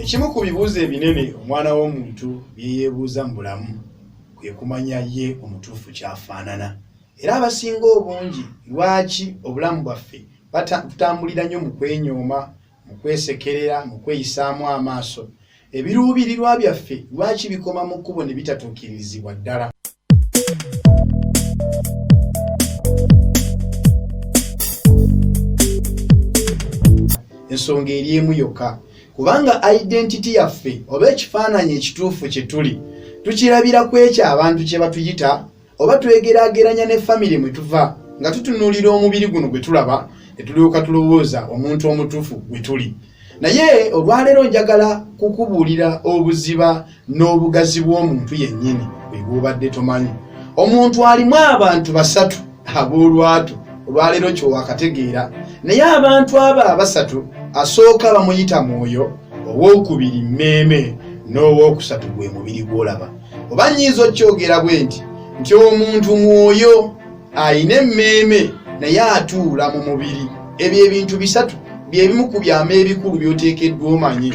ekimu ku bibuuzo ebinene omwana w'omuntu byeyeebuuza mu bulamu kwe kumanya ye omutuufu kyafaanana era abasinga obungi lwaki obulamu bwaffe butambulira nnyo mu kwenyooma mu kwesekerera mu kweyisaamu amaaso ebiruubirirwa byaffe lwaki bikoma mu kkubo ne bitatuukirizibwa ddala ensonga eri emu yokka kubanga identity yaffe oba ekifaananyi ekituufu kye tuli tukirabira ku ekyo abantu kye batuyita oba twegerageranya ne famire mwe tuva nga tutunuulira omubiri guno gwe tulaba ne tulyoka tulowooza omuntu omutuufu gwe tuli naye olwaleero njagala kukubuulira obuziba n'obugazi bw'omuntu yennyini bwebwobadde tomanyi omuntu alimu abantu basatu ab'olwatu olwaleero kyowakategeera naye abantu abo abasatu asooka bamuyita mwoyo ow'okubiri mmeeme n'ow'okusatu gwe mubiri gw'olaba oba nnyinza okyogera bwe nti nti omuntu mwoyo alina emmeeme naye atuula mu mubiri ebyo ebintu bisatu byebimu ku byama ebikulu byoteekeddwa omanyi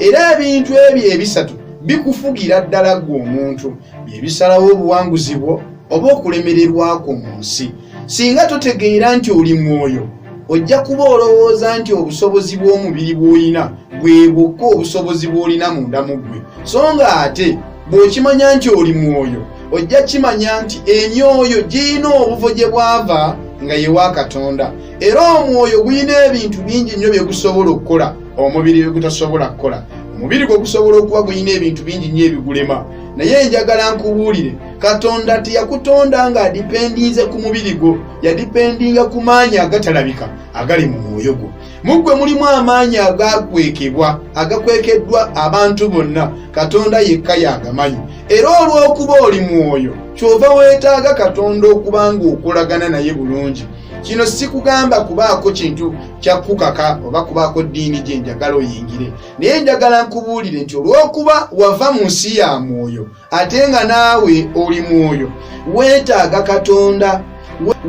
era ebintu ebyo ebisatu bikufugira ddala gwe omuntu byebisalawo obuwanguzi bwo oba okulemererwa kwo mu nsi singa totegeera nti oli mwoyo ojja kuba olowooza nti obusobozi bw'omubiri bw'olina bwe bwokka obusobozi bw'olina munda mu ggwe so nga ate bw'okimanya nti oli mwoyo ojja kimanya nti emyoyo girina obuvo gye bwava nga yewa katonda era omwoyo gulina ebintu bingi nnyo bye gusobola okukola omubiri bye gutasobola kukola omubiri gwe gusobola okuba gulina ebintu bingi nnyo ebigulema naye njagala nkubuulire katonda teyakutonda nga adipendinze ku mubiri gwo yadipendinga ku maanyi agatalabika agali mu mwoyo gwo mu ggwe mulimu amaanyi agaakwekebwa agakwekeddwa abantu bonna katonda yekka yagamanyi era olw'okuba oli mwoyo kyova weetaaga katonda okuba ng'okolagana naye bulungi kino sikugamba kubaako kintu kyakukaka oba kubaako ddiini gye njagala oyingire naye njagala nkubuulire nti olw'okuba wava mu nsi ya mwoyo ate nga naawe oli mwoyo weetaaga katonda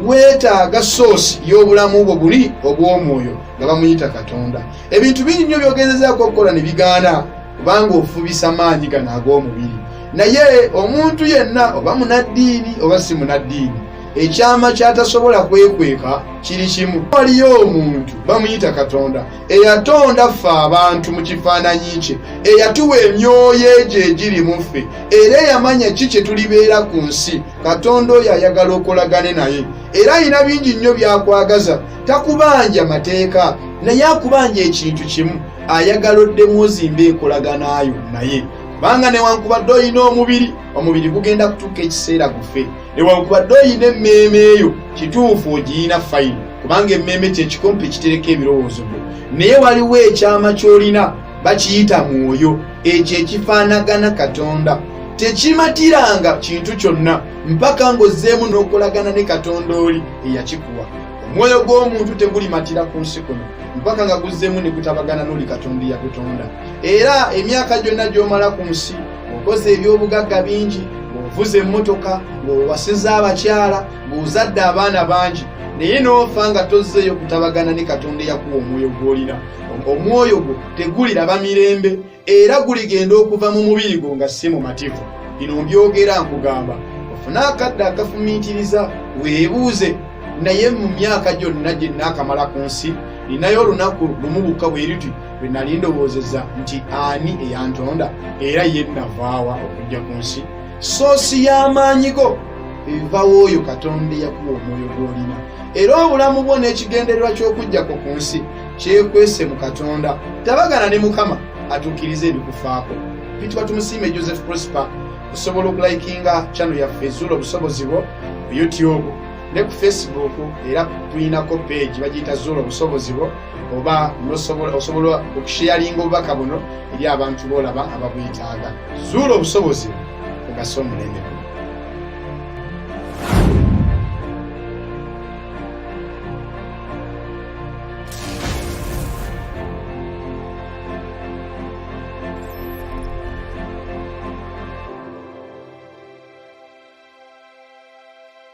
weetaaga soosi y'obulamu bwo buli obw'omwoyo nga bamuyita katonda ebintu bingi nnyo byogezezaako okukola ne bigaana kubanga ofubisa maanyi gano ag'omubiri naye omuntu yenna oba munaddiini oba si munaddiini ekyama kyatasobola kwekweka kiri kimu waliyo omuntu bamuyita katonda eyatonda ffe abantu mu kifaananyi kye eyatuwa emyoyo egyo egiri mu ffe era eyamanya ki kye tulibeera ku nsi katonda oyo ayagala okolagane naye era alina bingi nnyo byakwagaza takubanja mateeka naye akubanja ekintu kimu ayagala oddemu ozimba enkolaganayo naye kubanga newankubadde olina omubiri omubiri gugenda kutuuka ekiseera gufe newankubadde oyina emmeeme eyo kituufu ogiyina fayini kubanga emmeeme kyekikompe ekitereka ebirowoozo byo naye waliwo ekyama ky'olina bakiyita mwoyo ekyo ekifaanagana katonda tekimatiranga kintu kyonna mpaka ng'ozzeemu n'okolagana ne katonda oli eyakikuwa omwoyo gw'omuntu tegulimatira ku nsi kuno mpaka nga guzzeemu ne gutabagana n'oli katonda eyakutonda era emyaka gyonna gy'omala ku nsi ng'okoze eby'obugagga bingi ng'ovuza emmotoka ng'owasiza abakyala ng'ozadde abaana bangi naye n'ofa nga tozzeeyo kutabagana ne katonda eyakuwa omwoyo gw'olina omwoyo gwo teguliraba mirembe era guligenda okuva mu mubiri gwo nga si mumativu bino mbyogera nkugamba ofune akadde akafumiitiriza weebuuze naye mu myaka gyonna gye nnaakamala ku nsi ninayo olunaku lumu bukka bwe luti bwe nali ndowoozeza nti ani eyantonda era ye navaawa okujja ku nsi soosi y'amaanyi go ebivawo oyo katonda eyakuwa omwoyo gw'olina era obulamu bwo n'ekigendererwa ky'okujjako ku nsi kyekwese mu katonda tabagana ne mukama atuukiriza ebikufaako bitwa tumusiime joseph prosper osobola okulikinga chano yaffe ezuula obusobozi bwo ku youtube ne ku facebook era tulinako peegi bagiyita zuula obusobozi bwo oba osobola okusheyalinga obubaka buno eri abantu boolaba ababwetaaga zuula obusobozi ogase omulembe guno